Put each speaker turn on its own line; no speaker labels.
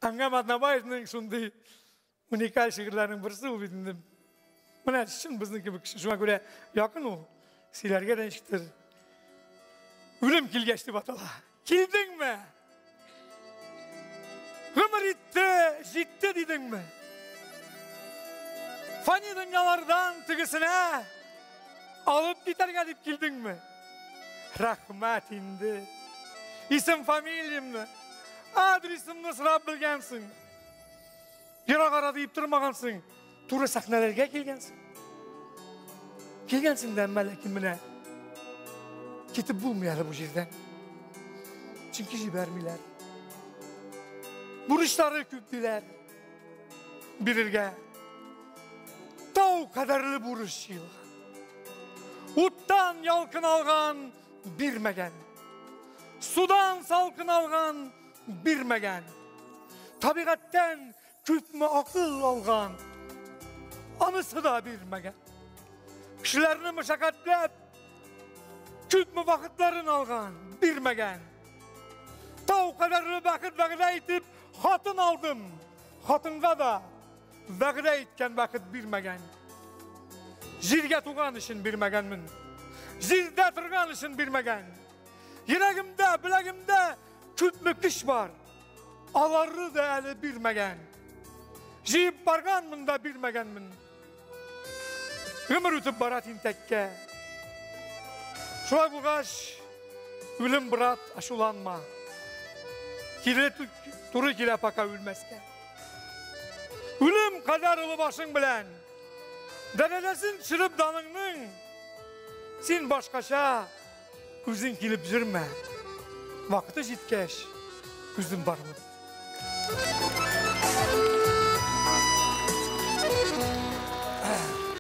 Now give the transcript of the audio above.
Әңгәм Атнабаевның шундый уникаль шигырьләрнең берсе ул бит инде. Менә чын безнең кебек кеше. Шуңа күрә якын ул. Сөйләргә дә ничектер. Үлем килгәч дип атала. Килдеңме? Гомер итте, җитте дидеңме? Фани дөньялардан тегесенә алып китәргә дип килдеңме? Рәхмәт инде. Исем фамилиямне, адресымны сорап белгәнсең. Ерак ара диеп тормагансың. Туры сәхнәләргә килгәнсең. Килгәнсең дә, әмма ләкин менә китеп булмый әле бу җирдән. Чөнки җибәрмиләр. Бурычлары күп диләр. бирергә тау кадәрле бурычы уттан ялкын алган бирмәгән судан салкын алган бирмәгән табигатьтән күпме акыл алган анысы да бирмәгән кешеләрне мәшәкатьләп күпме вакытларын алган бирмәгән тау кадәрле бәхет вәгъдә итеп Хатын алдым, хатынга да вәгъдә иткән бәхет бирмәгән. Җиргә туган өчен бирмәгәнмен. Җирдә торган өчен бирмәгән. Йөрәгемдә, беләгемдә күпме көч бар. Аларны да әле бирмәгән. Җыеп барганмын да бирмәгәнмен. Гомер үтеп бара тинтәккә. Шулай булгач, үлем брат, ашуланма. Киле туры килә пока үлмәскә. Үлем кадәр олы башың белән. Дәрәҗәсен төшереп даныңның. Син башкача Үзең килеп йөрмә. Вакыты җиткәч, үзем бармын.